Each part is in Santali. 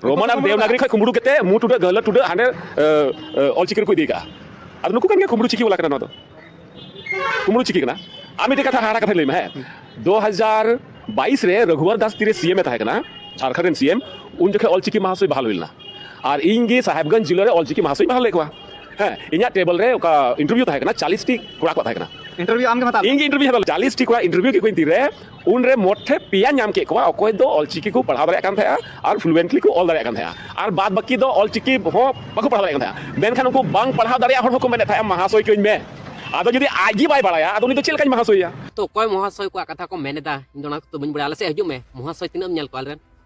ᱨᱳᱢᱟᱱ ᱟᱨ ᱫᱮᱵᱽᱱᱟᱜᱨᱤ ᱠᱷᱚᱱ ᱠᱩᱢᱵᱲᱩ ᱠᱟᱛᱮ ᱢᱩ ᱴᱩᱰᱟᱹᱜ ᱜᱟᱹᱞᱟᱹ ᱴᱩᱰᱟᱹᱜ ᱦᱟᱸᱰᱮ ᱚᱞᱪᱤᱠᱤ ᱨᱮᱠᱚ ᱤᱫᱤ ᱠᱟᱜᱼᱟ ᱟᱫᱚ ᱱᱩᱠᱩ ᱠᱟᱱ ᱜᱮᱭᱟ ᱠᱩᱢᱵᱲᱩ ᱪᱤᱠᱤ ᱵᱟᱞᱟ ᱠᱟᱱᱟ ᱱᱚᱣᱟ ᱫᱚ ᱠᱩᱢᱲᱩ ᱪᱤᱠᱟᱹ ᱠᱟᱱᱟ ᱟᱨ ᱢᱤᱫᱴᱮᱡ ᱠᱟᱛᱷᱟ ᱦᱟᱦᱟᱲᱟ ᱠᱟᱛᱷᱟᱧ ᱞᱟᱹᱭᱢᱟ ᱦᱮᱸ ᱫᱩ ᱦᱟᱡᱟᱨ ᱵᱟᱭᱤᱥ ᱨᱮ ᱨᱟᱹᱜᱷᱩᱣᱟᱨ ᱫᱟᱥ ᱛᱤᱨᱮ ᱥᱤ ᱮᱢ ᱮ ᱛᱟᱦᱮᱸ ᱠᱟᱱᱟ ᱡᱷᱟᱲᱠᱷᱚᱸᱰ ᱨᱮᱱ ᱥᱤ ᱮᱢ ᱩᱱ ᱡᱚᱠᱷᱮᱡ ᱚᱞᱪᱤᱠᱤ ᱢᱟᱦᱟᱥᱚᱭ ᱵᱟᱦᱟᱞ ᱦᱩᱭ ᱞᱮᱱᱟ ᱟᱨ ᱤᱧ ᱜᱮ ᱥᱟᱦᱮᱵᱽᱜᱚᱸᱡᱽ ᱡᱤᱞᱟᱹ ᱨᱮ ᱚᱞᱪᱤᱠᱤ ᱢᱟᱦᱟᱥᱚᱭ ᱵᱟᱦᱟᱞ ᱞᱮᱫ ᱠᱚᱣᱟ ᱦᱮᱸ ᱤᱧᱟᱹᱜ ᱴᱮᱵᱚᱞ ᱨᱮ ᱚᱠᱟ ᱤᱱᱴᱟᱨᱵᱷᱤᱭᱩ ᱛᱟᱦᱮᱸ ᱠᱟᱱᱟ ᱪᱟᱞᱤᱥᱴᱤ ᱠᱚᱲᱟ ᱠᱚ ᱛᱟᱦᱮᱸ ᱠᱟᱱᱟ ᱤᱱᱴᱟᱨᱵᱷᱤᱭᱩ ᱟᱢ ᱜᱮᱢ ᱦᱟᱛᱟᱣ ᱤᱧ ᱜᱮ ᱤᱱᱴᱟᱨᱵᱷᱤᱭᱩ ᱦᱟᱛᱟᱣ ᱪᱟᱞᱤᱥᱴᱤ ᱠᱚᱲᱟ ᱤᱱᱴᱟᱨᱵᱷᱤᱭᱩ ᱠᱮᱫ ᱠᱚᱣᱟᱧ ᱛᱤᱨᱮ ᱩᱱᱨᱮ ᱢᱳᱴ ᱴᱷᱮᱱ ᱯᱮᱭᱟ ᱧᱟᱢ ᱠᱮᱫ ᱠᱚᱣᱟ ᱚᱠᱚᱭ ᱫᱚ ᱚᱞᱪᱤᱠᱤ ᱠᱚ ᱯᱟᱲᱦᱟᱣ ᱫᱟᱲᱮᱭᱟᱜ ᱠᱟᱱ ᱛᱟᱦᱮᱸᱜᱼᱟ ᱟᱨ ᱯᱷᱞᱩᱭᱮᱱᱴᱞᱤ ᱠᱚ ᱚᱞ ᱫᱟᱲᱮᱭᱟᱜ ᱠᱟᱱ ᱛᱟᱦᱮᱸᱜᱼᱟ ᱟᱨ ᱵᱟᱫ ᱵᱟᱹᱠᱤ ᱫᱚ ᱚᱞᱪᱤᱠᱤ ᱦᱚᱸ ᱵᱟᱠᱚ ᱯᱟᱲᱦᱟᱣ ᱫᱟᱲᱮᱭᱟᱜ ᱠᱟᱱ ᱛᱟᱦᱮᱸᱜᱼᱟ ᱢᱮᱱᱠᱷᱟᱱ ᱩᱱᱠᱩ ᱵᱟᱝ ᱯᱟᱲᱦᱟᱣ ᱫᱟᱲᱮᱭᱟᱜ ᱦᱚᱲ ᱦᱚᱸᱠᱚ ᱢᱮᱱᱮᱫ ᱛᱟᱦᱮᱸᱜᱼᱟ ᱢᱟᱦᱟᱥᱚᱭ ᱦᱚᱪᱚᱧ ᱢᱮ ᱟᱫᱚ ᱡᱩᱫᱤ ᱟᱡ ᱜᱮ ᱵᱟᱭ ᱵᱟᱲᱟᱭᱟ ᱟᱫᱚ ᱩᱱᱤ ᱫᱚ ᱪᱮᱫ ᱞᱮᱠᱟᱧ ᱢᱟᱦᱟᱥᱚᱭᱮᱭᱟ ᱛᱚ ᱚᱠᱚᱭ ᱢᱚᱦᱟᱥᱚᱭ ᱠᱚᱣᱟᱜ ᱠᱟᱛᱷᱟ ᱠᱚ ᱢᱮᱱᱮᱫᱟ ᱤᱧ ᱫᱚ ᱚᱱᱟ ᱠᱚᱫᱚ ᱵᱟᱹᱧ ᱵᱟᱲᱟᱭᱟ ᱟᱞᱮ ᱥᱮᱫ ᱦᱤᱡᱩᱜ ᱢᱮ ᱢᱚᱦᱟᱥᱚᱭ ᱛᱤᱱᱟᱹᱜ ᱮᱢ ᱧᱮᱞ ᱠᱚᱣᱟ ᱟᱞᱮ ᱨᱮᱱ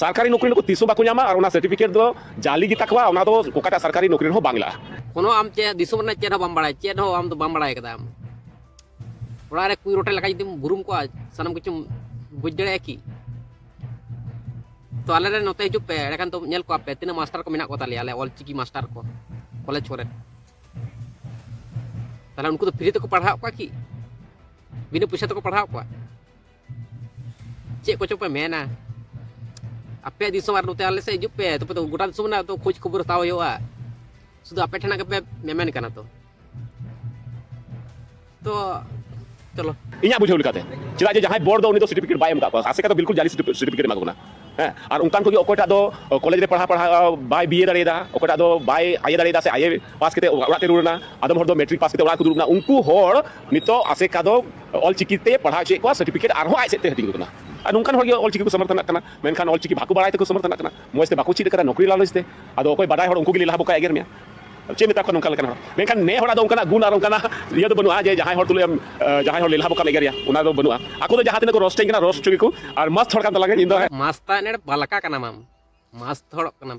ᱥᱚᱨᱠᱟᱨᱤ ᱱᱚᱠᱨᱤ ᱱᱩᱠᱩ ᱛᱤᱥ ᱦᱚᱸ ᱵᱟᱠᱚ ᱧᱟᱢᱟ ᱟᱨ ᱚᱱᱟ ᱥᱟᱨᱴᱤᱯᱷᱤᱠᱮᱴ ᱫᱚ ᱡᱟᱞᱤ ᱜᱮ ᱛᱟᱠᱚᱣᱟ ᱚᱱᱟ ᱫᱚ ᱚᱠᱟᱴᱟᱜ ᱥᱚᱨᱠᱟᱨᱤ ᱱᱚᱠᱨᱤ ᱨᱮᱦᱚᱸ ᱵᱟᱝ ᱞᱟᱜᱼᱟ ᱠᱳᱱᱳ ᱟᱢ ᱪᱮᱫ ᱫᱤᱥᱚᱢ ᱨᱮᱱᱟᱜ ᱪᱮᱫ ᱦᱚᱸ ᱵᱟᱢ ᱵᱟᱲᱟᱭᱟ ᱪᱮᱫ ᱦᱚᱸ ᱟᱢ ᱫᱚ ᱵᱟᱢ ᱵᱟᱲᱟᱭ ᱠᱟᱫᱟ ᱟᱢ ᱚᱲᱟᱜ ᱨᱮ ᱠᱩᱭ ᱨᱚᱴᱮ ᱞᱮᱠᱟ ᱡᱩᱫᱤᱢ ᱵᱩᱨᱩᱢ ᱠᱚᱜᱼᱟ ᱥᱟᱱᱟᱢ ᱠᱤᱪᱷᱩᱢ ᱵᱩᱡᱽ ᱫᱟᱲᱮᱭᱟᱜᱼᱟ ᱠᱤ ᱛᱚ ᱟᱞᱮ ᱨᱮ ᱱᱚᱛᱮ ᱦᱤᱡᱩᱜ ᱯᱮ ᱮᱸᱰᱮᱠᱷᱟᱱ ᱫᱚ ᱧᱮᱞ ᱠᱚᱣᱟ ᱯᱮ ᱛᱤᱱᱟᱹᱜ ᱢᱟᱥᱴᱟᱨ ᱠᱚ ᱢᱮᱱᱟᱜ ᱠᱚ ᱛᱟᱞᱮᱭᱟ ᱟᱞᱮ ᱚᱞ ᱪᱤᱠᱤ ᱢᱟᱥᱴᱟᱨ ᱠᱚ ᱠᱚᱞᱮᱡᱽ ᱠᱚᱨᱮ ᱛᱟᱦᱞᱮ ᱩᱱᱠᱩ ᱫᱚ ᱯᱷᱨᱤ ᱛᱮᱠᱚ ᱯᱟᱲᱦᱟᱣ ᱠᱚᱣᱟ ᱠᱤ ᱵᱤᱱᱟᱹ ᱯᱚᱭᱥᱟ ᱛᱮᱠᱚ ᱯᱟᱲᱦᱟᱣ ᱠᱚᱣᱟ ᱪᱮᱫ ᱠᱚᱪᱚ ᱯᱮ ᱢᱮᱱᱟ ᱟᱯᱮ ᱫᱤᱥᱚᱢ ᱟᱨ ᱱᱚᱛᱮ ᱟᱞᱮ ᱥᱮᱫ ᱦᱤᱡᱩᱜ ᱯᱮ ᱛᱚᱵᱮ ᱛᱚ ᱜᱚᱴᱟ ᱫᱤᱥᱚᱢ ᱨᱮᱱᱟᱜ ᱛᱚ ᱠᱷᱳᱡᱽ ᱠᱷᱚᱵᱚᱨ ᱦᱟᱛᱟᱣ ᱦᱩᱭᱩᱜᱼᱟ ᱥᱩᱫᱷᱩ ᱟᱯᱮ ᱴᱷᱮᱱᱟᱜ ᱜᱮᱯᱮ ᱢᱮᱢᱮᱱ ᱠᱟᱱᱟ ᱛᱚ ᱛᱚ ᱪᱚᱞᱚ ᱤᱧᱟᱹᱜ ᱵᱩᱡᱷᱟᱹᱣ ᱞᱮᱠᱟᱛᱮ ᱪᱮᱫᱟᱜ ᱡᱮ ᱡᱟᱦᱟᱸᱭ ᱵᱚᱲ ᱫᱚ ᱩᱱᱤ ᱫᱚ ᱥᱟᱨᱴᱤᱯᱷᱤᱠᱮᱴ ᱵᱟᱭ ᱮᱢ ᱠᱟᱜ ᱠᱚᱣᱟ ᱟᱥᱮᱠᱟ ᱫᱚ ᱵᱤᱞᱠᱩᱞ ᱡᱟᱞᱤ ᱥᱟᱨᱴᱤᱯᱷᱤᱠᱮᱴ ᱮᱢᱟ ᱠᱚ ᱠᱟᱱᱟ ᱦᱮᱸ ᱟᱨ ᱚᱱᱠᱟᱱ ᱠᱚᱜᱮ ᱚᱠᱚᱭᱴᱟᱜ ᱫᱚ ᱠᱚᱞᱮᱡᱽ ᱨᱮ ᱯᱟᱲᱦᱟᱣ ᱯᱟᱲᱦᱟᱣ ᱵᱟᱭ ᱵᱤᱭᱮ ᱫᱟᱲᱮᱭᱟᱫᱟ ᱚᱠᱚᱭᱴᱟᱜ ᱫᱚ ᱵᱟᱭ ᱟᱭᱮ ᱫᱟᱲᱮᱭᱟᱫᱟ ᱥᱮ ᱟᱭᱮ ᱯᱟᱥ ᱠᱟᱛᱮ ᱚᱲᱟᱜ ᱛᱮ ᱨᱩᱣᱟᱹᱲ ᱮᱱᱟ ᱟᱫᱚᱢ ᱦᱚᱲ ᱫᱚ ᱢᱮᱴᱨᱤᱠ ᱯᱟᱥ ᱠᱟᱛᱮ ᱚᱲᱟᱜ ᱠᱚ ᱫᱩᱲᱩᱵ ᱮᱱᱟ ᱩᱱᱠᱩ ᱦᱚᱲ ᱱᱤᱛᱚᱜ ᱟᱥᱮᱠᱟ ᱫᱚ ᱚᱞ ᱪᱤᱠᱤ ᱛᱮ ᱯᱟᱲᱦᱟᱣ ᱦᱚᱪᱚᱭᱮᱫ ᱠᱚᱣᱟ ᱥᱟᱨᱴᱤᱯᱷᱤᱠᱮᱴ ᱟᱨᱦᱚᱸ ᱟᱡ ᱥᱮᱫ ᱛᱮ ᱦᱟᱹᱴᱤᱧ ᱠᱟᱱᱟ ᱟᱨ ᱱᱚᱝᱠᱟᱱ ᱦᱚᱲ ᱜᱮ ᱚᱞ ᱪᱤᱠᱤ ᱠᱚ ᱥᱚᱢᱚᱨᱛᱷᱚᱱᱟᱜ ᱠᱟᱱᱟ ᱢᱮᱱᱠᱷᱟᱱ ᱚᱞ ᱪᱤᱠᱤ ᱵᱟᱠᱚ ᱵᱟᱲᱟᱭ ᱛᱮᱠᱚ ᱥᱚᱢᱚᱨᱛᱷᱚᱱᱟᱜ ᱠᱟᱱᱟ ᱢᱚᱡᱽ ᱛᱮ ᱵᱟᱠᱚ ᱪᱮᱫ ᱟᱠᱟᱫᱟ ᱱᱚᱠᱨᱤ ᱞᱟᱞᱚᱪ ᱛᱮ ᱟᱫᱚ ᱚᱠᱚᱭ ᱵᱟᱰᱟᱭ ᱦᱚᱲ ᱩᱱᱠᱩ ᱜᱮ ᱞᱟᱦᱟ ᱵᱚᱠᱟ ᱮᱜᱮᱨ ᱢᱮᱭᱟ ᱪᱮᱫ ᱢᱮᱛᱟ ᱠᱚᱣᱟ ᱱᱚᱝᱠᱟ ᱞᱮᱠᱟᱱ ᱦᱚᱲ ᱢᱮᱱᱠᱷᱟᱱ ᱱᱮ ᱦᱚᱲᱟᱜ ᱫᱚ ᱚᱱᱠᱟᱱᱟᱜ ᱜᱩᱱ ᱟᱨ ᱚᱱᱠᱟᱱᱟᱜ ᱤᱭᱟᱹ ᱫᱚ ᱵᱟᱹᱱᱩᱜᱼᱟ ᱡᱮ ᱡᱟᱦᱟᱸᱭ ᱦᱚᱲ ᱛᱩᱞᱩᱡ ᱟᱢ ᱡᱟᱦᱟᱸᱭ ᱦᱚᱲ ᱞᱮᱞᱦᱟ ᱵᱚᱠᱟᱢ ᱮᱜᱮᱨᱮᱭᱟ ᱚᱱᱟ ᱫᱚ ᱵᱟᱹᱱᱩᱜᱼᱟ ᱟᱠᱚ ᱫᱚ ᱡᱟᱦᱟᱸ ᱛᱤᱱᱟᱹᱜ ᱠᱚ ᱨᱚᱥᱴᱮᱧ ᱠᱟᱱᱟ ᱨᱚᱥᱴ ᱦᱚᱪᱚ ᱜᱮᱠᱚ ᱟᱨ ᱢᱟᱥᱛ ᱦᱚᱲ ᱠᱟᱱ ᱛᱟᱞᱟᱝᱟ ᱤᱧ ᱫᱚ ᱢᱟᱥᱛᱟ ᱮᱱᱮᱲ ᱵᱟᱞᱟᱠᱟ ᱠᱟᱱᱟᱢ ᱟᱢ ᱢᱟᱥᱛ ᱦᱚᱲᱚᱜ ᱠᱟᱱᱟᱢ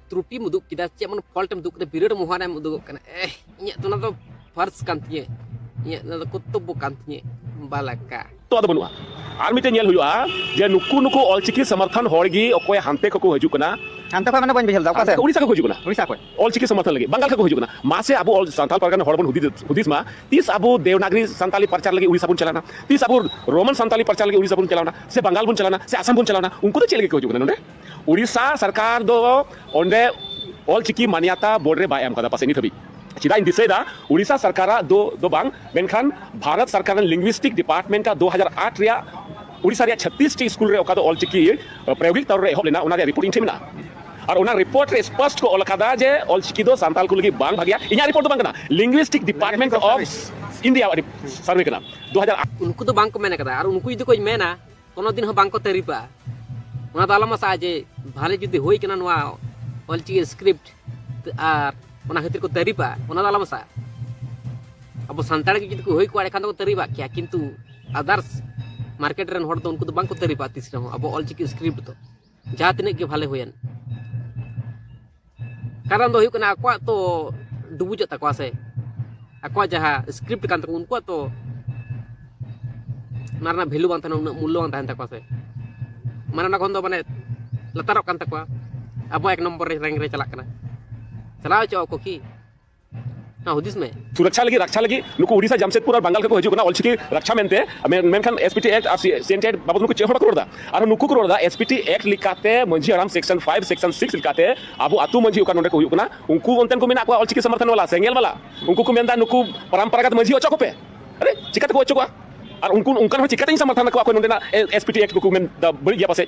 ᱛᱨᱩᱴᱤᱢ ᱩᱫᱩᱜ ᱠᱮᱫᱟ ᱪᱮᱫ ᱢᱟᱱᱮ ᱯᱷᱚᱞᱴᱮᱢ ᱩᱫᱩᱜ ᱠᱮᱫᱟ ᱵᱤᱨᱟᱹᱴ ᱢᱚᱦᱟᱱᱮᱢ ᱩᱫᱩᱜᱚᱜ ᱠᱟᱱᱟ ᱮ ᱤᱧᱟᱹᱜ ᱫᱚ ᱚᱱᱟ ᱫᱚ ᱯᱷᱟᱨᱥ ᱠᱟᱱ ᱛᱤᱧᱟᱹ ᱤᱧᱟᱹᱜ ᱚᱱᱟ ᱫᱚ ᱠᱚᱨᱛᱚᱵᱽᱵᱚ ᱠᱟᱱ ᱛᱤᱧᱟᱹ ᱵᱟᱞᱟᱠᱟ ᱛᱚ ᱟᱫᱚ ᱵᱟᱹᱱᱩᱜᱼᱟ ᱟᱨ ᱢᱤᱫᱴᱮᱱ ᱧᱮᱞ ᱦᱩᱭᱩᱜᱼᱟ ᱡᱮ ᱱᱩᱠᱩ ᱱᱩᱠᱩ ᱚᱞᱪᱤᱠᱤ ᱥᱚᱢᱚᱨᱛᱷᱚᱱ ᱦᱚᱲ ᱜᱮ ᱚᱠᱚᱭ ᱦᱟᱱᱛᱮ ᱠᱷᱚᱱ ᱠᱚ ᱦᱤᱡᱩᱜ ᱠᱟᱱᱟ ᱦᱟᱱᱛᱮ ᱠᱷᱚᱱ ᱢᱟᱱᱮ ᱵᱟᱹᱧ ᱵᱩᱡᱷᱟᱹᱣ ᱞᱮᱫᱟ ᱚᱠᱟ ᱥᱮᱫ ᱩᱲᱤᱥᱥᱟ ᱠᱷᱚᱱ ᱠᱚ ᱦᱤᱡᱩᱜ ᱠᱟᱱᱟ ᱩᱲᱤᱥᱥᱟ ᱠᱷᱚᱱ ᱚᱞᱪᱤᱠᱤ ᱥᱚᱢᱚᱨᱛᱷᱚᱱ ᱞᱟᱹᱜᱤᱫ ᱵᱟᱝᱜᱟᱞ ᱠᱷᱚᱱ ᱠᱚ ᱦᱤᱡᱩᱜ ᱠᱟᱱᱟ ᱢᱟᱥᱮ ᱟᱵᱚ ᱚᱞ ᱥᱟᱱᱛᱟᱲ ᱯᱟᱨᱜᱟᱱᱟ ᱦᱚᱲ ᱵᱚᱱ ᱦᱩᱫᱤᱥ ᱦᱩᱫᱤᱥ ᱢᱟ ᱛᱤᱥ ᱟᱵᱚ ᱫᱮᱣᱱᱟᱜᱨᱤ ᱥᱟᱱᱛᱟᱲᱤ ᱯᱨᱚᱪᱟᱨ ᱞᱟᱹᱜᱤᱫ ᱩᱲᱤᱥᱥᱟ ᱵᱚᱱ ᱪᱟᱞᱟᱣᱱᱟ ᱛᱤᱥ ᱟᱵᱚ ᱨᱳᱢᱟᱱ ᱥᱟᱱᱛᱟᱲᱤ ᱯᱨᱚᱪᱟᱨ ᱞᱟᱹᱜᱤᱫ ᱩᱲᱤᱥᱥᱟ ᱵᱚᱱ ᱪᱟᱞᱟᱣᱱᱟ ᱥᱮ ᱵᱟᱝᱜᱟᱞ ᱵᱚᱱ ᱪᱟᱞᱟᱣᱱᱟ ᱥᱮ ᱟᱥᱟᱢ ᱵᱚᱱ ᱪᱟᱞᱟᱣᱱᱟ ᱩᱱᱠᱩ ᱫᱚ ᱪᱮᱫ ᱞᱟᱹᱜᱤᱫ ᱠᱚ ᱦᱤᱡᱩᱜ ᱠᱟᱱᱟ ᱱᱚᱰᱮ ᱳᱰᱤᱥᱟ ᱥᱚᱨᱠᱟᱨ ᱫᱚ ᱚᱸᱰᱮ ᱚᱞ ᱪᱤᱠᱤ ᱢᱟᱱᱭᱟᱛᱟ ᱵᱳᱨᱰ ᱨᱮ ᱵᱟᱭ ᱮᱢ ᱠᱟᱫᱟ ᱯᱟᱥᱮᱡ ᱱᱤᱛ ᱦᱟᱹᱵᱤᱡ ᱪᱮᱫᱟᱜ ᱤᱧ ᱫᱤᱥᱟᱹᱭᱮᱫᱟ ᱳᱰᱤᱥᱟ ᱥᱚᱨᱠᱟᱨ ᱟᱜ ᱫᱚ ᱫᱚ ᱵᱟᱝ ᱢᱮᱱᱠᱷᱟᱱ ᱵᱷᱟᱨᱚᱛ ᱥᱚᱨᱠᱟᱨ ᱨᱮᱱ ᱞᱤᱝᱜᱩᱤᱥᱴᱤᱠ ᱰᱤᱯᱟᱨᱴᱢᱮᱱᱴ ᱟᱜ ᱫᱩ ᱦᱟᱡᱟᱨ ᱟᱴ ᱨᱮᱭᱟᱜ ᱳᱰᱤᱥᱟ ᱨᱮᱭᱟᱜ ᱪᱷᱟᱛᱛᱤᱥ ᱴᱤ ᱥᱠᱩᱞ ᱨᱮ ᱚᱠᱟ ᱫᱚ ᱚᱞ ᱪᱤᱠᱤ ᱯᱨᱟᱭᱳᱜᱤᱠ ᱛᱚᱨ ᱨᱮ ᱮᱦᱚᱵ ᱞᱮᱱᱟ ᱚᱱᱟ ᱨᱮᱭᱟᱜ ᱨᱤᱯᱳᱨᱴ ᱤᱧ ᱴᱷᱮᱱ ᱢᱮᱱᱟᱜᱼᱟ ᱟᱨ ᱚᱱᱟ ᱨᱤᱯᱳᱨᱴ ᱨᱮ ᱥᱯᱚᱥᱴ ᱠᱚ ᱚᱞ ᱟᱠᱟᱫᱟ ᱡᱮ ᱚᱞ ᱪᱤᱠᱤ ᱫᱚ ᱥᱟᱱᱛᱟᱲ ᱠᱚ ᱞᱟᱹᱜᱤᱫ ᱵᱟᱝ ᱵᱷᱟᱜᱮᱭᱟ ᱤᱧᱟᱜ ᱨᱤᱯᱳᱨᱴ ᱫᱚ ᱵᱟᱝ ᱠᱟᱱᱟ ᱞᱤᱝᱜᱩᱤᱥᱴᱤᱠ ᱰᱤᱯᱟᱨᱴᱢᱮᱱᱴ ᱚᱯᱷ ᱤᱱᱰᱤᱭᱟ ᱟᱜ ᱥᱟᱨᱵᱷᱮ ᱠᱟᱱᱟ ᱫᱩ ᱦᱟᱡᱟᱨ ᱟᱴ ᱩᱱᱠᱩ ᱫᱚ ᱵᱟᱝ ᱠᱚ ᱢᱮᱱ ᱟᱠᱟᱫᱟ ᱟᱨ ᱩᱱᱠᱩ ᱡᱩᱫᱤ ᱠᱚ ᱢᱮᱱᱟ ᱠᱳᱱᱳ ᱫᱤᱱ ᱦᱚᱸ ᱵᱟᱝᱠᱚ ᱛᱟᱹᱨᱤᱯᱟ ᱚᱱᱟ ᱫᱚ ᱟᱞᱚᱢ ᱟᱥᱟᱜᱼᱟ ᱡᱮ ᱵᱷᱟᱞᱮ ᱡᱩᱫᱤ ᱦᱩᱭ ᱠᱟᱱᱟ ᱱᱚᱣᱟ ᱚᱞᱪᱤᱠᱤ ᱥᱠᱨᱤᱯᱴ ᱟᱨ ᱚᱱᱟ ᱠᱷᱟᱹᱛᱤᱨ ᱠᱚ ᱛᱟᱹᱨᱤᱯᱟ ᱚᱱᱟ ᱫᱚ ᱟᱞᱚᱢ ᱟᱥᱟᱜᱼᱟ ᱟᱵᱚ ᱥᱟᱱᱛᱟᱲ ᱜᱮ ᱡᱩᱫᱤ ᱠᱚ ᱦᱩᱭ ᱠᱚᱜᱼᱟ ᱮᱱᱠᱷᱟᱱ ᱫᱚᱠᱚ ᱛᱟᱹᱨᱤᱵᱟᱜ ᱠᱮᱭᱟ ᱠᱤᱱᱛᱩ ᱟᱫᱟᱨᱥ ᱢᱟᱨᱠᱮᱴ ᱨᱮᱱ ᱦᱚᱲ ᱫᱚ ᱩᱱᱠᱩ ᱫᱚ ᱵᱟᱝᱠᱚ ᱛᱟᱹᱨᱤᱯᱟ ᱛᱤᱥ ᱨᱮᱦᱚᱸ ᱟᱵᱚ ᱚᱞᱪᱤᱠᱤ ᱥᱠᱨᱤᱯᱴ ᱫᱚ ᱡᱟᱦᱟᱸ ᱛᱤᱱᱟᱹᱜ ᱜᱮ ᱵᱷᱟᱞᱮ ᱦᱩᱭᱮᱱ ᱠᱟᱨᱚᱱ ᱫᱚ ᱦᱩᱭᱩᱜ ᱠᱟᱱᱟ ᱟᱠᱚᱣᱟᱜ ᱛᱚ ᱰᱩᱵᱩᱡᱚᱜ ᱛᱟᱠᱚᱣᱟ ᱥᱮ ᱟᱠᱚᱣᱟᱜ ᱡᱟᱦᱟᱸ ᱥᱠᱨᱤᱯᱴ ᱠᱟᱱ ᱛᱟᱠᱚ ᱩᱱᱠᱩᱣᱟᱜ ᱛᱚ ᱚᱱᱟ ᱨᱮᱱᱟᱜ ᱵᱷᱮᱞᱩ ᱵᱟᱝ ᱛᱟᱦᱮᱱᱟ ᱩᱱᱟᱹᱜ ᱢᱩᱞᱞᱚ ᱵᱟᱝ ᱛᱟᱦᱮᱱ ᱛᱟᱠᱚᱣᱟ ᱥᱮ ᱢᱟᱱᱮ ᱚᱱᱟ ᱠᱷᱚᱱ ᱫᱚ ᱢᱟᱱᱮ ᱞᱟᱛᱟᱨᱚᱜ ᱠᱟᱱ ᱛᱟᱠᱚᱣᱟ ᱟᱵᱚ ᱮᱠ ᱱᱚᱢᱵᱚᱨ ᱨᱮ ᱨᱮᱝᱠ ᱨᱮ ᱪᱟᱞᱟᱜ ᱠᱟᱱᱟ ᱪᱟᱞᱟᱣ ᱦᱚᱪᱚᱣᱟᱜ ᱟᱠᱚ ᱠᱤ ᱦᱩᱫᱤᱥ ᱢᱮ ᱥᱩᱨᱚᱠᱪᱷᱟ ᱞᱟᱹᱜᱤᱫ ᱨᱟᱠᱪᱷᱟ ᱞᱟᱹᱜᱤᱫ ᱱᱩᱠᱩ ᱩᱰᱤᱥᱟ ᱡᱟᱢᱥᱮᱫᱯᱩᱨ ᱟᱨ ᱵᱟᱝᱜᱟᱞ ᱠᱷᱚᱱ ᱠᱚ ᱦᱤᱡᱩᱜ ᱠᱟᱱᱟ ᱚᱞᱪᱤᱠᱤ ᱨᱟᱠᱪᱷᱟ ᱢᱮᱱᱛᱮ ᱢᱮᱱᱠᱷᱟᱱ ᱮᱥᱯᱤᱴᱤ ᱮᱠᱴ ᱟᱨ ᱥᱤᱮᱱᱴᱤ ᱮᱠᱴ ᱵᱟᱵᱚᱫ ᱱᱩᱠᱩ ᱪᱮᱫ ᱦᱚᱸ ᱵᱟᱠᱚ ᱨᱚᱲᱫᱟ ᱟᱨ ᱱᱩᱠᱩ ᱠᱚ ᱨᱚᱲᱫᱟ ᱮᱥᱯᱤᱴᱤ ᱮᱠᱴ ᱞᱮᱠᱟᱛᱮ ᱢᱟᱹᱡᱷᱤ ᱦᱟᱲᱟᱢ ᱥᱮᱠᱥᱚᱱ 5 ᱥᱮᱠᱥᱚᱱ 6 ᱞᱮᱠᱟᱛᱮ ᱟᱵᱚ ᱟᱛᱩ ᱢᱟᱹᱡᱷᱤ ᱚᱠᱟ ᱱᱚᱰᱮ ᱠᱚ ᱦᱩᱭᱩᱜ ᱠᱟᱱᱟ ᱩᱱᱠᱩ ᱚᱱᱛᱮᱱ ᱠᱚ ᱢᱮᱱᱟᱜ ᱠᱚᱣᱟ ᱚᱞᱪᱤᱠᱤ ᱥᱚᱢᱚᱨᱛᱷᱚᱱ ᱵᱟᱞᱟ ᱥᱮᱸᱜᱮᱞ ᱵᱟᱞᱟ ᱩᱱᱠᱩ ᱠᱚ ᱢᱮᱱᱫᱟ ᱱᱩᱠᱩ ᱯᱚᱨᱚᱢᱯᱚᱨᱟᱜᱚᱛ ᱢᱟᱹᱡᱷᱤ ᱚᱪᱚᱜ ᱠᱚᱯᱮ ᱟᱨᱮ ᱪᱤᱠᱟᱹᱛᱮ ᱠᱚ ᱚᱪᱚᱜᱚᱜᱼᱟ ᱟᱨ ᱩᱱᱠᱩ ᱚᱱᱠᱟᱱ ᱦᱚᱲ ᱪᱤᱠᱟᱹᱛᱮᱧ ᱥᱚᱢᱚᱨᱛᱷᱚᱱ ᱟᱠᱚᱣᱟ ᱚᱠᱚᱭ ᱱᱚᱰᱮᱱᱟᱜ ᱮᱥᱯᱤᱴᱤ ᱮᱠᱴ ᱠᱚᱠᱚ ᱢᱮᱱᱫᱟ ᱵᱟᱹᱲᱤᱡ ᱜᱮᱭᱟ ᱯᱟᱥᱮᱡ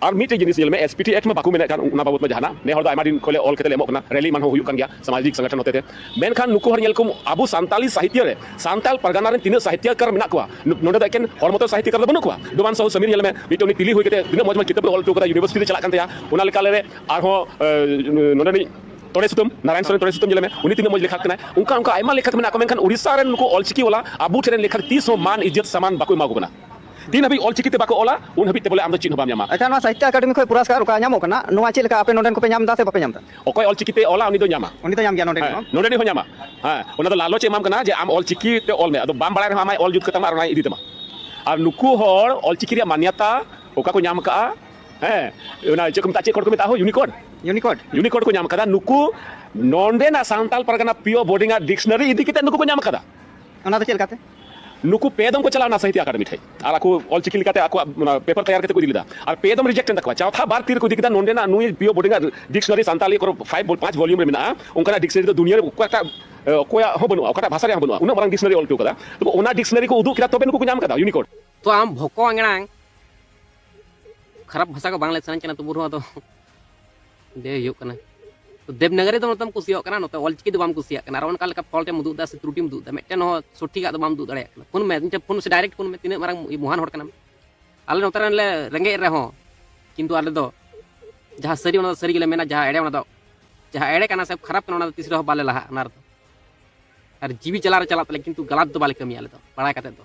ᱟᱨ ᱢᱤᱫᱴᱮᱡ ᱡᱤᱱᱤᱥ ᱧᱮᱞ ᱢᱮ ᱮᱥᱯᱤᱴᱤ ᱮᱠᱴ ᱢᱟ ᱵᱟᱠᱚ ᱢᱮᱱᱮᱫ ᱠᱟᱱ ᱚᱱᱟ ᱵᱟᱵᱚᱛ ᱢᱟ ᱡᱟᱦᱟᱱᱟᱜ ᱱᱮ ᱦᱚᱲ ᱫᱚ ᱟᱭᱢᱟ ᱫᱤᱱ ᱠᱷᱚᱱ ᱞᱮ ᱚᱞ ᱠᱟᱛᱮ ᱞᱮ ᱮᱢᱚᱜ ᱠᱟᱱᱟ ᱨᱮᱞᱤ ᱮᱢᱟᱱ ᱦᱚᱸ ᱦᱩᱭᱩᱜ ᱠᱟᱱ ᱜᱮᱭᱟ ᱥᱟᱢᱟᱡᱤᱠ ᱥᱚᱝᱜᱚᱴᱷᱚᱱ ᱦᱚᱛᱮᱛᱮ ᱢᱮᱱᱠᱷᱟᱱ ᱱᱩᱠᱩ ᱦᱚᱲ ᱧᱮᱞ ᱠᱚᱢ ᱟᱵᱚ ᱥᱟᱱᱛᱟᱞᱤ ᱥᱟᱦᱤᱛᱭᱚ ᱨᱮ ᱥᱟᱱᱛᱟᱞ ᱯᱟᱨᱜᱟᱱᱟ ᱨᱮᱱ ᱛᱤᱱᱟᱹᱜ ᱥᱟᱦᱤᱛᱭᱚᱠᱟᱨ ᱢᱮᱱᱟᱜ ᱠᱚᱣᱟ ᱱᱚᱰᱮ ᱫᱚ ᱮᱠᱮᱱ ᱦᱚᱲ ᱢᱚᱛᱚ ᱥᱟᱦᱤᱛᱭᱚᱠᱟᱨ ᱫᱚ ᱵᱟᱹᱱᱩᱜ ᱠᱚᱣᱟ ᱰᱚᱢᱟᱱ ᱥᱟᱦᱩ ᱥᱟᱢᱤᱨ ᱧᱮᱞ ᱢᱮ ᱢᱤᱫᱴᱮᱱ ᱩᱱᱤ ᱛᱤᱞᱤ ᱦᱩᱭ ᱠᱟᱛᱮ ᱛᱤᱱᱟᱹᱜ ᱢᱚᱡᱽ ᱢᱚᱡᱽ ᱠᱤᱛᱟᱹᱵ ᱚᱞ ᱦᱚᱴᱚ ᱠᱟᱫᱟ ᱭᱩᱱᱤᱵᱷᱟᱨᱥᱤᱴᱤ ᱨᱮ ᱪᱟᱞᱟᱜ ᱠᱟᱱ ᱛᱟᱭᱟ ᱚᱱᱟ ᱞᱮᱠᱟ ᱞᱮ ᱟᱨᱦᱚᱸ ᱱᱚᱰᱮ ᱱᱤᱡ ᱛᱚᱲᱮ ᱥᱩᱛᱟᱹᱢ ᱱᱟᱨᱟᱭᱚᱱ ᱥᱚᱨᱮᱱ ᱛᱚᱲᱮ ᱥᱩᱛᱟᱹᱢ ᱧᱮᱞ ᱢᱮ ᱩᱱᱤ ᱛᱤᱱᱟᱹᱜ ᱢᱚᱡᱽ ᱞᱮᱠᱷᱟᱠ ᱠᱟᱱᱟᱭ ᱚᱱᱠᱟ ᱚᱱᱠᱟ ᱟᱭᱢᱟ ᱞᱮᱠᱷᱟᱠ ᱢᱮᱱᱟᱜ ᱠᱚᱣᱟ ᱢᱮᱱᱠᱷᱟᱱ ᱩᱲᱤᱥᱥᱟ ᱨᱮᱱ ᱱᱩᱠᱩ ᱚᱞᱪᱤᱠᱤ ᱣᱟᱞᱟ ᱟᱵᱚ ᱴᱷᱮᱱ ᱞᱮᱠᱷᱟᱠ ᱛᱤᱥ ᱦᱚᱸ ᱢᱟᱱ ᱤᱡᱽᱡᱚᱛ ᱥᱟᱢᱟᱱ ᱵᱟᱠᱚ ᱮᱢᱟ ᱠᱚ ᱠᱟᱱᱟ ᱛᱤᱱ ᱦᱟᱹᱵᱤᱡ ᱚᱞ ᱪᱤᱠᱤ ᱛᱮ ᱵᱟᱠᱚ ᱚᱞᱟ ᱩᱱ ᱦᱟᱹᱵᱤᱡ ᱛᱮ ᱵᱚᱞᱮ ᱟᱢ ᱫᱚ ᱪᱮᱫ ᱦᱚᱸ ᱵᱟᱢ ᱧᱟᱢᱟ᱾ ᱟᱪᱪᱷᱟ ᱱᱚᱣᱟ ᱥᱟᱦᱤᱛᱭᱚ ᱟᱠᱟᱰᱮᱢᱤ ᱠᱷᱚᱱ ᱯᱩᱨᱟᱥᱠᱟᱨ ᱚᱠᱟ ᱧᱟᱢᱚᱜ ᱠᱟᱱᱟ ᱱᱚᱣᱟ ᱪᱮᱫ ᱞᱮᱠᱟ ᱟᱯᱮ ᱱᱚᱰᱮᱱ ᱠᱚᱯᱮ ᱧᱟᱢ ᱮᱫᱟ ᱥᱮ ᱵᱟᱯᱮ ᱧᱟᱢ ᱮᱫᱟ? ᱚᱠᱚᱭ ᱚᱞ ᱪᱤᱠᱤ ᱛᱮ ᱚᱞᱟ ᱩᱱᱤ ᱫᱚ ᱧᱟᱢᱟ᱾ ᱩᱱᱤ ᱫᱚ ᱧᱟᱢ ᱜᱮᱭᱟ ᱱᱚᱰᱮᱱᱤᱡ ᱦᱚᱸ᱾ ᱦᱮᱸ ᱱᱚᱰᱮᱱᱤᱡ ᱦᱚᱸ ᱧᱟᱢᱟ᱾ ᱦᱮᱸ ᱚᱱᱟ ᱫᱚ ᱞᱟᱞᱚᱪ ᱮ ᱮᱢᱟᱢ ᱠᱟᱱᱟ ᱡᱮ ᱟᱢ ᱚᱞ ᱪᱤᱠᱤ ᱛᱮ ᱚᱞ ᱢᱮ ᱟᱫᱚ ᱵᱟᱢ ᱵᱟᱲᱟᱭ ᱨᱮᱦᱚᱸ ᱟᱢᱟᱭ ᱚᱞ ᱡᱩᱛ ᱠᱟᱛᱟᱢᱟ ᱟᱨ ᱚᱱᱟᱭ ᱤᱫᱤ ᱛᱟᱢᱟ᱾ ᱟᱨ ᱱᱩᱠᱩ ᱦᱚᱲ ᱚᱞ ᱪᱤᱠᱤ ᱨᱮᱭᱟᱜ ᱢᱟᱱᱭᱟᱛᱟ ᱚᱠᱟ ᱠᱚ ᱧᱟᱢ ᱟᱠᱟᱫᱼᱟ ᱦᱮᱸ ᱚᱱᱟ ᱪᱮᱫ ᱠᱚ ᱢᱮᱛᱟᱜᱼᱟ ᱪᱮᱫ ᱠᱳᱰ ᱠᱚ ᱢᱮᱛᱟᱜᱼᱟ ᱦᱳ ᱭᱩᱱᱤᱠᱳᱰ? ᱭᱩᱱᱤᱠᱳᱰ᱾ ᱭᱩᱱᱤᱠᱳᱰ ᱠᱚ ᱧᱟᱢ ᱟᱠᱟᱫᱟ ᱱᱩᱠᱩ ᱱᱚᱰᱮᱱᱟᱜ ᱥᱟᱱᱛᱟᱞ ᱯᱟᱨᱜᱟᱱᱟ ᱯᱤᱭᱳ ᱵᱳᱨᱰᱤᱝ ᱟᱜ ᱰᱤᱠᱥᱱᱟᱨᱤ ᱤᱫᱤ ᱠᱟᱛᱮ ᱱᱩᱠᱩ ᱠᱚ ᱧᱟᱢ ᱟᱠᱟᱫᱟ᱾ ᱚᱱᱟ ᱫᱚ ᱪᱮᱫ ᱞᱮᱠᱟᱛᱮ ᱱᱩᱠᱩ ᱯᱮ ᱫᱚᱢ ᱠᱚ ᱪᱟᱞᱟᱣ ᱱᱟ ᱥᱟᱦᱤᱛᱭᱟ ᱟᱠᱟᱰᱮᱢᱤ ᱴᱷᱮᱡ ᱟᱨ ᱟᱠᱚ ᱚᱞ ᱪᱤᱠᱤ ᱞᱮᱠᱟᱛᱮ ᱟᱠᱚ ᱯᱮᱯᱟᱨ ᱛᱮᱭᱟᱨ ᱠᱟᱛᱮ ᱠᱚ ᱤᱫᱤ ᱞᱮᱫᱟ ᱟᱨ ᱯᱮ ᱫᱚᱢ ᱨᱤᱡᱮᱠᱴ ᱮᱱ ᱛᱟᱠᱚᱣᱟ ᱪᱟᱣᱛᱷᱟ ᱵᱟᱨ ᱛᱤᱨ ᱠᱚ ᱤᱫᱤ ᱠᱮᱫᱟ ᱱᱚᱸᱰᱮ ᱱᱟᱜ ᱱᱩᱭ ᱯᱤᱭᱳ ᱵᱳᱰᱤᱝ ᱰᱤᱠᱥᱱᱟᱨᱤ ᱥᱟᱱᱛᱟᱞᱤ ᱠᱚᱨᱚ ᱯᱷᱟᱭᱤᱵ ᱯᱟᱸᱪ ᱵᱷᱚᱞᱤᱭᱩᱢ ᱨᱮ ᱢᱮᱱᱟᱜᱼᱟ ᱚᱱᱠᱟᱱᱟᱜ ᱰᱤᱠᱥᱱᱟᱨᱤ ᱫᱚ ᱫᱩᱱᱤᱭᱟᱹ ᱨᱮ ᱚᱠᱚᱭᱴᱟᱜ ᱚᱠᱚᱭᱟᱜ ᱦᱚᱸ ᱵᱟᱹᱱᱩᱜᱼᱟ ᱚᱠᱟᱴᱟᱜ ᱵᱷᱟᱥᱟ ᱨᱮᱭᱟᱜ ᱵᱟᱹᱱᱩᱜᱼᱟ ᱩᱱᱟᱹᱜ ᱢᱟᱨᱟᱝ ᱰᱤᱠᱥᱱᱟᱨᱤ ᱚᱞ ᱦᱚᱴᱚ ᱠᱟᱫᱟ ᱛᱚᱵᱮ ᱚᱱᱟ ᱰᱤᱠᱥᱱᱟᱨᱤ ᱠᱚ ᱩᱫᱩᱜ ᱠᱮᱫᱟ ᱛᱚᱵᱮ ᱱᱩᱠᱩ ᱠᱚ ᱧᱟᱢ ᱠᱟᱫᱟ ᱭᱩᱱᱤᱠᱳᱰ ᱛᱚ ᱟᱢ ᱵᱷᱚᱠᱚ ᱟᱝᱲᱟᱝ ᱠᱷᱟᱨᱟᱯ ᱵᱷᱟᱥᱟ ᱠᱚ ᱵᱟᱝ ᱞᱟᱹᱭ ᱥᱟᱱᱟᱧ ᱠᱟᱱᱟ ᱛᱚᱵᱩ ᱨᱮᱦᱚᱸ ᱟᱫᱚ ᱞᱟᱹᱭ ᱦᱩᱭᱩᱜ ᱠᱟᱱᱟ ᱛᱚ ᱫᱮᱵᱽᱱᱟᱜᱚᱨᱤ ᱫᱚ ᱱᱚᱛᱮᱢ ᱠᱩᱥᱤᱭᱟᱜ ᱠᱟᱱᱟ ᱱᱚᱛᱮ ᱚᱞᱪᱤᱠᱤ ᱫᱚ ᱵᱟᱢ ᱠᱩᱥᱤᱭᱟᱜ ᱠᱟᱱᱟ ᱟᱨ ᱚᱱᱠᱟ ᱞᱮᱠᱟ ᱯᱷᱚᱞᱴᱮᱢ ᱩᱫᱩᱜ ᱮᱫᱟ ᱥᱮ ᱛᱨᱩᱴᱤᱢ ᱩᱫᱩᱜ ᱮᱫᱟ ᱢᱤᱫᱴᱮᱱ ᱦᱚᱸ ᱥᱚᱴᱷᱤᱠᱟᱜ ᱫᱚ ᱵᱟᱢ ᱩᱫᱩᱜ ᱫᱟᱲᱮᱭᱟᱜ ᱠᱟᱱᱟ ᱯᱷᱳᱱ ᱢᱮ ᱢᱤᱫᱴᱮᱱ ᱯᱷᱳᱱ ᱥᱮ ᱰᱟᱭᱨᱮᱠᱴ ᱯᱷᱳᱱ ᱢᱮ ᱛᱤᱱᱟᱹᱜ ᱢᱟᱨᱟᱝ ᱢᱚᱦᱟᱱ ᱦᱚᱲ ᱠᱟᱱᱟᱢ ᱟᱞᱮ ᱱᱚᱛᱮ ᱨᱮᱱ ᱞᱮ ᱨᱮᱸᱜᱮᱡ ᱨᱮᱦᱚᱸ ᱠᱤᱱᱛᱩ ᱟᱞᱮ ᱫᱚ ᱡᱟᱦᱟᱸ ᱥᱟᱹᱨᱤ ᱚᱱᱟ ᱫᱚ ᱥᱟᱹᱨᱤ ᱜᱮᱞᱮ ᱢᱮᱱᱟ ᱡᱟᱦᱟᱸ ᱮᱲᱮ ᱚᱱᱟ ᱫᱚ ᱡᱟᱦᱟᱸ ᱮᱲᱮ ᱠᱟᱱᱟ ᱥᱮ ᱠᱷᱟᱨᱟᱯ ᱠᱟᱱᱟ ᱚᱱᱟ ᱫᱚ ᱛᱤᱥ ᱨᱮᱦᱚᱸ ᱵᱟᱞᱮ ᱞᱟᱦᱟᱜ ᱚᱱᱟ ᱨᱮᱫᱚ ᱟᱨ ᱡᱤᱣᱤ ᱪᱟᱞᱟᱣ ᱨᱮ ᱪᱟᱞᱟᱜ ᱛᱟᱞᱮ ᱠᱤᱱᱛᱩ ᱜᱟᱞᱟᱛ ᱫᱚ ᱵᱟᱞᱮ ᱠᱟᱹᱢᱤᱭᱟ ᱟᱞᱮ ᱫᱚ ᱵᱟᱲᱟᱭ ᱠᱟᱛᱮ ᱫᱚ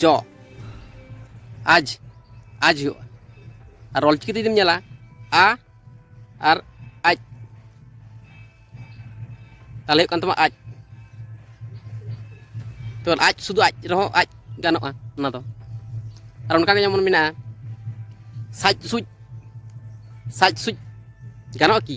ᱡᱚ ᱟᱡ ᱟᱡ ᱦᱩᱭᱩᱜᱼᱟ ᱟᱨ ᱚᱞᱪᱤᱠᱤ ᱡᱩᱫᱤᱢ ᱧᱮᱞᱟ ᱟ ᱟᱨ ᱟᱡ ᱛᱟᱦᱚᱞᱮ ᱦᱩᱭᱩᱜ ᱠᱟᱱ ᱛᱟᱢᱟ ᱟᱡ ᱛᱚ ᱟᱡ ᱥᱩᱫᱷᱩ ᱟᱡ ᱨᱮᱦᱚᱸ ᱟᱡ ᱜᱟᱱᱚᱜᱼᱟ ᱚᱱᱟ ᱫᱚ ᱟᱨ ᱚᱱᱠᱟ ᱜᱮ ᱡᱮᱢᱚᱱ ᱢᱮᱱᱟᱜᱼᱟ ᱥᱟᱡ ᱥᱩᱡ ᱥᱟᱡ ᱥᱩᱡ ᱜᱟᱱᱚᱜᱼᱟ ᱠᱤ